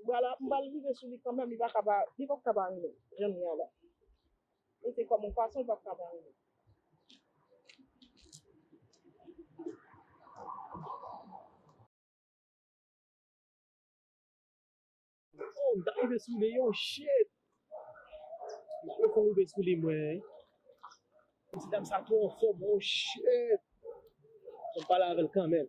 M pral m pral rive sou li kanmenm li paka pa li pap ka pa renmenl janm ye a la li te kòm on fason li pap ka pa renmenl. Oh m ta rive sou li oh shit m poko rive sou li mwen Ti dam sa twò anfòm oh shit Fòm pale avèl kanmenm.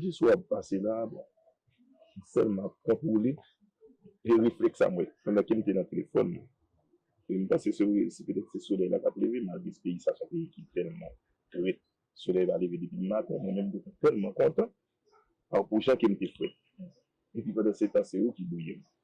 Jis wè wap pase la a bon. M sèlman ap kontwole e reflèks sa mwen pandan ke m te nan telefòn mwen. E m panse se wè se petèt se solèy la kap leve malgre peyi sa se yon peyi ki tèlman frèt solèy va leve depi maten mwen menm mte tèlman kontan a pou jan ke m te frèt. Epi pandansetan se ou ki bouyi m.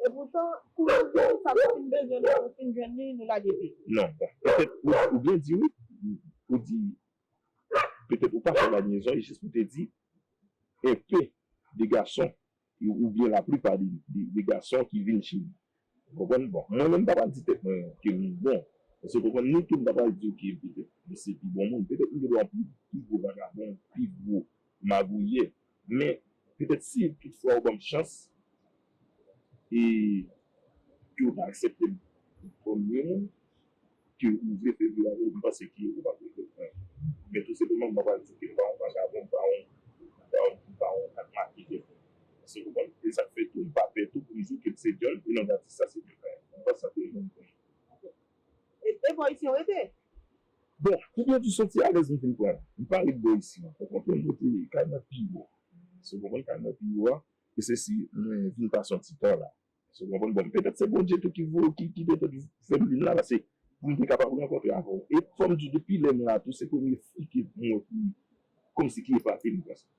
E poutan, kou nou di sa nou fin bezwen lè nou fin jwenn li, nou lage pye. Non, bon, petèt ou byen di wi, ou di petèt ou pa fè lanyezon e jis pou te di un peu de gason ou byen la plipa de gason ki vin chez li. Ou konprann? Bon, mwen menm m pa pral di tèt mwen ke m bon, èske ou konprann? Ni tou m pa pral di w ke petèt m se pi bon moun. Petèt m gen dwa pi gwo vagabon, pi gwo magouyè, Men, petèt si tout fwa ou ban m chans e ke ou ta aksepte m kòm yon moun ke ou vle fè vi avè l, m panse ke ou pa p regrèt anyen. Men tou senpleman mwen pral di ke m pa yon vagabon, m pa yon, m pa yon, m pa yon kakmake kèlkonk. Èske w konprann? E sa k fè tou m pa pè tou pou m di w ke m se Dyòl e non Batista se Dyòl pa m. M panse sa tout moun konnen. Ok. E Evolisyon rete? Bon, koubyen tou soti alèz m fin pran? M pa ret bò isi ankò. Konprann m mete kay mwen pi wo. Èske w konprann? Kay mwen pi wo a, e se si mwen vin pase yon ti tan la. Èske w konprann? Bon, petèt se Bondye tou ki voye, ki petèt fè m vin la, pase pou m te kapab rankontre avè w. E fò m di w, depi lè m la tou, se premye fi ke m wè ki, kòmsi ki epate m konsa.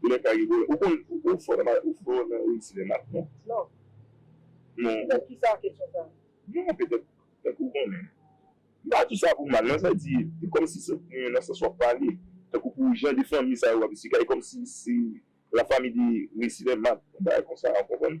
Volè pa gen volè ou konn ou fò nan ou fò nan ri sinema tou non. Non. Non. Petèt kisa kesyon sa? Non petèt tankou ou konnen. M pa di sa pou mal non sa di e kòmsi se e nan sans wap pale tankou pou jan de fanmi sa yo wap esplike a e kòmsi se la famille de ri sinema yon bagay konsa ou konprann?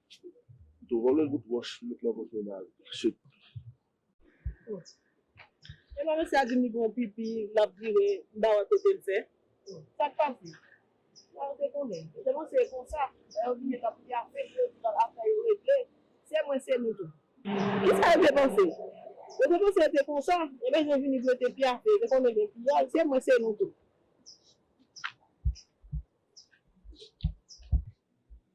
Mtou vòlò bout wòch met lan poto bal chut. Epa mesye a dim li gen yon pipi lap vire mpa wè kotel fè sak pase la yo te konnen yo te panse e konsa lè yo vini lap di afè yo epi afè yo regle se mwen se nou tou kisa yo te panse yo te panse e te konsa ebyen yo vini prete pyafe yo te konnen gen piyay se mwen se nou tou.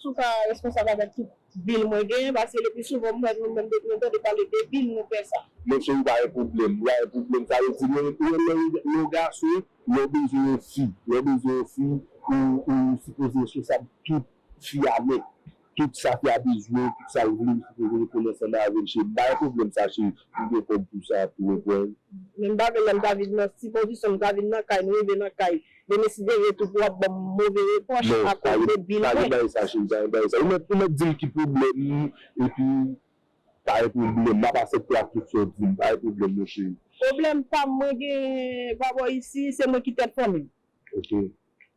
Si w pa responsab avèk tout bil mwen genyen paske le pli souvan m wè nou menm depi nou tande pale de bil nou pè sa. Mon cheri pa gen pwoblèm. Li pa gen pwoblèm sa vle di lè ou lè ou gason lè w bezwen yon fi lè w bezwen yon fi ou ou sipoze responsab tout fi a nèt tout sa fi a bezwen tout sa l vle ou sipoze reponn ansanm avè l cheri m pa gen pwoblèm sa cheri m gen kòb pou sa tou ou konprann. Men m pa vle lè m ta vin nan ti pozisyon m ta vin nan kay m rive nan kay Denise veye tou pou wap banm move repwòch a koz de bil mwen. Non pa gen bagay sa cheri pa gen bagay sa ou mèt ou mèt dim ki pwoblèm ou epi pa gen pwoblèm map asèpte ak tout saw dim pa gen pwoblèm non cheri. Pwoblèm pam mwen gen pa bò isi se mwen ki tèt fanmim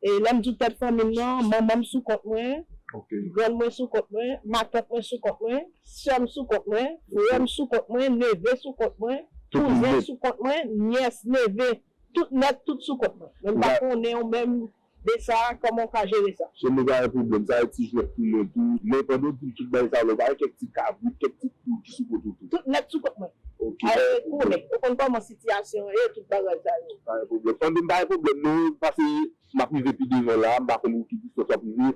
e lèm di w tèt fanmim nan manmanm sou kont mwen grann mwen sou kont mwen matant mwen sou kont mwen sèm sou kont mwen frèm sou kont mwen neve sou kont mwen kouzen sou kont mwen nyès neve Tout nèt tout sou kont mwen. Men m pa konnenw menm de sa koman w ka jere sa. Chèn nou pa yon pwoblèm, sa e ti jwèt pou mwen tou. Men pandan w di tout bagay sa la ou pa wè kèk ti kabrit, kèk ti poul ki sou kont ou tou? Tout nèt sou kont mwen. Ok. Ae konnen, ou konn koman sitiyasyon an ye, tout bagay sa yo. Pa gen pwoblèm. Tande m pa gen pwoblèm non, pase m ap rive pi devan la, m pa konn ou ki distans w ap rive,